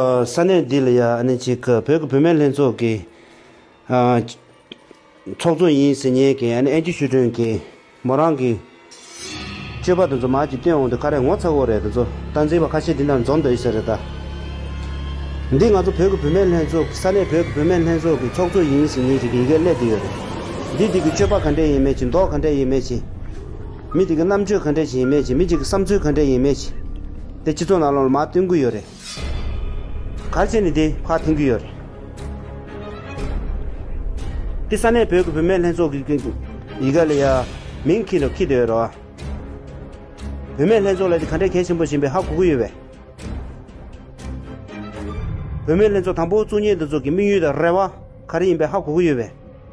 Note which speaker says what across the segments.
Speaker 1: ས་གནས་འདི་ལ་ཡང་ཨ་ནེ་གཅིག་གི་བོད་ཀྱི་བུད་མེད་ལྷན་ཚོགས་ཀྱི་ཚོགས་གཙོ་ཡིན་ཟེར་ཉན་མཁན་ཨ་ནེ་ཨན་ཅུ་ཤུས་ཁྲོན་གྱིས་མོ་རང་གི་སྤྱོད་པ་དེ་ཚོ་མར་གྱིས་བཏོན་འོང་དུས་ཁ་རས་ངོ་ཚ་བོ་རེད་དེ་ཚོ་སྟངས་འཛིན་པ་ཁ་ཤས་འདི་འདྲ་འཛོམས་འདོད་ཡོད་ས་རེད་ད། འདི་ང་ཚོ་བོད་ཀྱི་བུད་མེད་ལྷན་ཚོགས་ས་གནས་བོད་ཀྱི་བུད་མེད་ལྷན་ཚོགས་ཀྱི་ཚོགས་གཙོ་ཡིན་ཟེར་ཉན་ཞིག་གི་ཡི་གེ་སླེབས་ཀྱི་ཡོད་རེད། འདིས་འདི་གི་སྤྱོད་པ་ག་འདྲས་ཡིན་མེད་ཅིག་མདོག་ག་འདྲས་ཡིན་མེད་ཅིག། མི་དེ་གི་རྣམ་དཔྱོད་ག་འདྲས་ཞིག་ཡིན་མེད་ཅིག་མི་གཅིག་གི་བསམ་ཚུལ་ག་འདྲས་ཡིན་མེད་ཅིག་དེ་སྤྱི་ཚོགས་ནང་ལོགས་ལ་མར་བཏོན་གི་ཡོད་རེད། གར་བྱེད་ནི་དེ་ཁག་འཐེན་གྱི་ཡོད་རེད། དེ་ས་གནས་བོད་ཀྱི་བུད་མེད་ལྷན་ཚོགས་ཀྱི་ཡི་ག་ལ་ཡ། མིང་ཁྱི་ལོ་ཁྱི་དེ་ཡོད་རེད། བུད་མེད་ལྷན་ཚོགས་ལ་དེ་ག་འདྲའི་གལ་ཆེན་པོ་བཞིན་པའི་ཧ་གོ་གི་ཡོད་པས། བུད་མེད་ལྷན་ཚོགས་དང་པོ་བཙུགས་ཉེས་འདི་ཚོགས་ཀྱི་དམིགས་ཡུལ་དང་རེ་བ་ག་རེ་ཡིན་པའི་ཧ་གོ་གི་ཡོད་པས།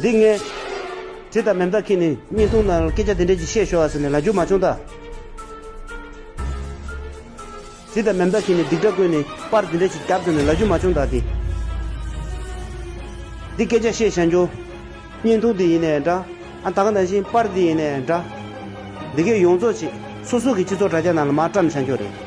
Speaker 1: འདི་ངས། དྲི་དང་མེ་མདའ་ཁྱེད་ནི་བརྙན་ཐུང་ནང་སྐད་ཆ་དེ་འདྲས་ཅིག་བཤད་ཤོག་ཨ་ཟེར་ནས་ལ་རྒྱུགས་མ་བྱུང་ད། དྲི་དང་མེ་མདའ་ཁྱེད་ནི་སྡིག་སྒྲ་ཀུན་ནས་པར་དེ་འདྲས་ཅིག་རྒྱབ་བཙུགས་ནས་ལ་རྒྱུགས་མ་བྱུང་ད་དེ། འདི་སྐད་ཆ་བཤད་བཞག་འགྱོ། བརྙན་ཐུང་དེ་ཡིན་ནས་འདྲ། ཨ་ད་ག་ནང་བཞིན་པར་དེ་ཡིན་ནས་འདྲ། འདི་གས་ཡོངས་རྫོགས་བྱེད། སོ་སོ་གི་སྤྱི་ཚོགས་དྲ་རྒྱ་ནང་ལ་མར་བཀྲམ་བཞག་འགྱོ་རེད།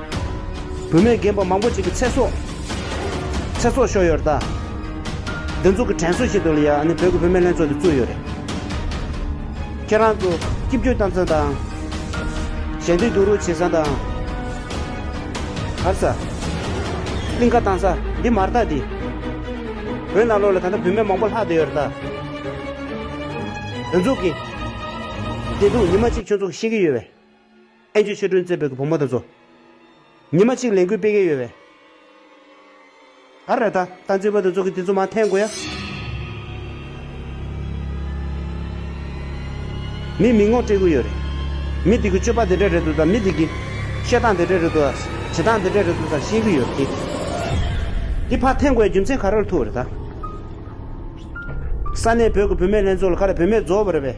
Speaker 1: བུད་མེད་རྒན་པོ་མང་པོ་ཅིག་གི་ཚེ་སྲོག། ཚེ་སྲོག་ཤོར་ཡོད་རྟ། འདི་ཚོ་གི་དྲན་གསོ་བྱེད་དུ་ལ་ཡ་ཨ་ནི་བོད་ཀྱི་བུད་མེད་ལྷན་ཚོགས་འདི་བཙུགས་ཡོད་རེད། ཁྱེད་རང་ཚོ་སྐྱིབ་བཅོལ་གཏམ་ཚང་དང། གཞན་དོན་སྡུག་རུག་བྱེད་ས་དང། གར་ས། གླིང་ཁ་བཏང་ས་འདི་མ་རྟ་འདི། བོད་ནང་ལོགས་ལ་ད་ལྟ་བུད་མེད་མང་པོ་ལྷག་བསྡད་ཡོད་རྟ། འདི་ཚོ་གི། བདེ་སྡུག་ཉི་མ་གཅིག་ཁྱོད་ཚོ་གི་ཤེས་ཀྱི་ཡོད་བས། ཨེ་ཅོ་ཆོས་སྒྲོན་རྩེ་བོད་ཀྱི་བུ་མོ་དང་མཚོ། ཉི་མ་གཅིག་ལས་འགུལ་སྤེལ་མཁན་ཡོད་པས། ཨ་ར་ད། ད་འཛིན་པ་དང་ཚོགས་ཀྱི་དེ་ཚོ་མ་འཐེན་དགོས་ཡ། མི་མི་ངོ་སྤྲད་གི་ཡོད་རེད། མི་དེ་གི་སྤྱོད་པ་དེ་འདྲ་རེད་འདུག་ད་མི་དེ་གི། བཤད་སྟངས་དེ་འདྲ་རེད་འདུག་ད་བྱེད་སྟངས་དེ་འདྲ་རེད་འདུག་ད་ཤེས་གི་ཡོད་རེད། འདི་ཕར་འཐེན་དགོས་ཡ་རྒྱུ་མཚན་ག་རེར་ཐུག་རེད་ད། ས་གནས་བོད་ཀྱི་བུད་མེད་ལྷན་ཚོགས་ལ་ག་རེ་བུད་མེད་རྫོགས་པ་རེད་པས།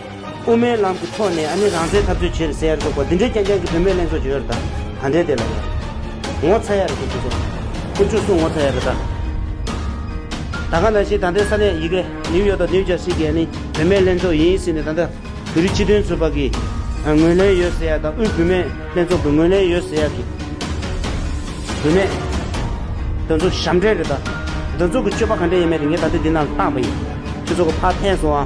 Speaker 1: དབུ་མའི་ལམ་གྱི་ཐོག་ནས་ཨ་ནི་རང་བཙན་འཐབ་རྩོད་བྱེད་རེད་ཟེར་ཡ་རེད་འདུག་གོ་འདི་འདྲའི་རྐྱང་རྐྱང་གི་བུད་མེད་ལྷན་ཚོགས་ཀྱི་ཡོད་རེད་ད། ད་འདྲའི་དེ་ལ་ཡ། ངོ་ཚ་ཡ་རེད་འདུག་ཁྱེད་ཚོ། ཁྱེད་བཅུ་གསུམ་ངོ་ཚ་ཡ་རེད་ད། ད་ག་ནང་བཞིན་ད་འདའི་ས་གནས་ཡི་གེ་ནིའུ་ཡོག་དང་ནིའུ་ཇར་སི་གི་ཨ་ནི་བུད་མེད་ལྷན་ཚོགས་ཡིན་ཟེར་ནས་ད་འདའ་བོད་རིགས་སྤྱི་དོན་ཚོགས་པ་གི་ངོས་ལེན་ཡོད་ཟེར་ཡ་དང་དབུས་བུད་མེད་ལྷན་ཚོགས་ཀྱི་ངོས་ལེན་ཡོད་ཟེར་ཡ་གི། བུད་མེད། འདི་ཚོ་ཞབས་འདྲེན་རེད་ད། འདི་ཚོ་གི་སྤྱོད་པ་ག་འདྲ་ཡིན་མེད་རེད་ངས་ད་ལྟའི་འདི་ནང་བརྟགས་པ་ཡིན། ཁྱེད་ཚོ་གི་ཕ་ཕན་སོང་ཨ།